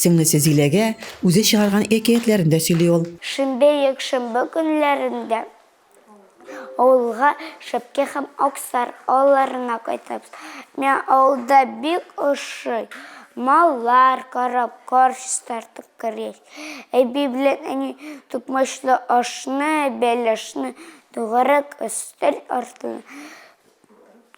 Сеңлесе Зиләгә үзе чыгарган әкиятләрен дә сөйли ул. Шимбә, якшәмбе көннәрендә авылга Шәпкә һәм Аксар авылларына кайтабыз. Миңа авылда бик ошый. Маллар карап, кар чистартып керәбез. Әби белән әни токмачлы ашны, бәлешне тугарак өстәл артына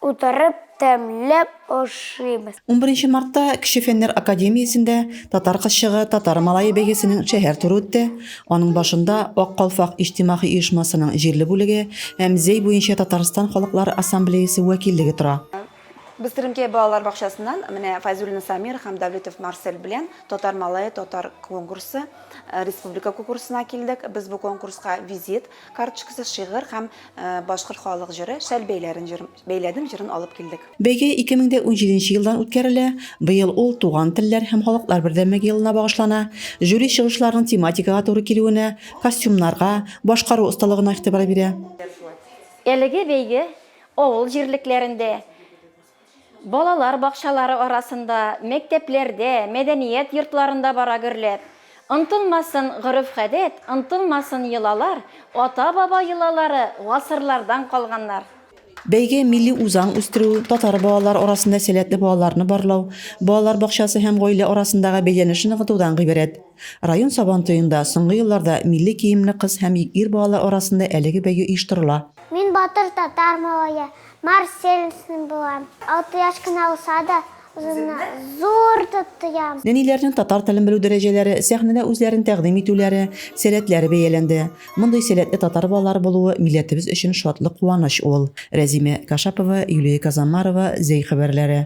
Утырып тәмләп ашыйбыз. Унберенче мартта Кече фәннәр академиясендә Татар кызчыгы, татар малае бәйгесенең шәһәр туры үтте. Аның башында Ак калфак иҗтимагый оешмасының җирле бүлеге һәм Зәй буенча Татарстан халыклары ассамблеясе вәкиллеге тора. Без Теремкәй балалар бакчасыннан менә Файзуллин Самир һәм Давлетов Марсель белән Татар малае татар конкурсы республика конкурсына килдек. Без бу конкурска визит Карточкасыз шигырь һәм Башкорт халык җыры Шәл бәйләрен җыр бәйләдем җырын алып килдек. Бәйге 2017 нче елдан үткәрелә, быел ул Туган телләр һәм халыклар бердәмлеге елына багышлана. Жюри чыгышларның тематикага туры килүенә, костюмнарга, башкару осталыгына игътибар бирә. Әлеге бәйге авыл җирлекләрендә Балалар бакчалары арасында, мәктәпләрдә, мәдәният йортларында бара гөрләп. Онтылмасын гореф-гадәт, онтылмасын йолалар, ата-баба йолалары, гасырлардан калганнар. Бәйге милли үзаң үстерү, татар балалары арасында сәләтле балаларны барлау, балалар бакчасы һәм гаилә арасындагы бәйләнешне ныгытудан гыйбарәт. Район Сабантуенда соңгы елларда милли киемле кыз һәм ир балалар арасында әлеге бәйге оештырыла. Мин батыр татар малае. Марсельсный булам. Алты яшь кенә булса да, үземне зур дип тоям. Нәниләрнең татар телен белү дәрәҗәләре, сәхнәдә үзләрен тәкъдим итүләре, сәләтләре бәяләнде. Мондый сәләтле татар балалары булуы милләтебез өчен шатлык, куаныч ул. Рәзимә Кашапова, Юлия Казамарова, Зәй хәбәрләре.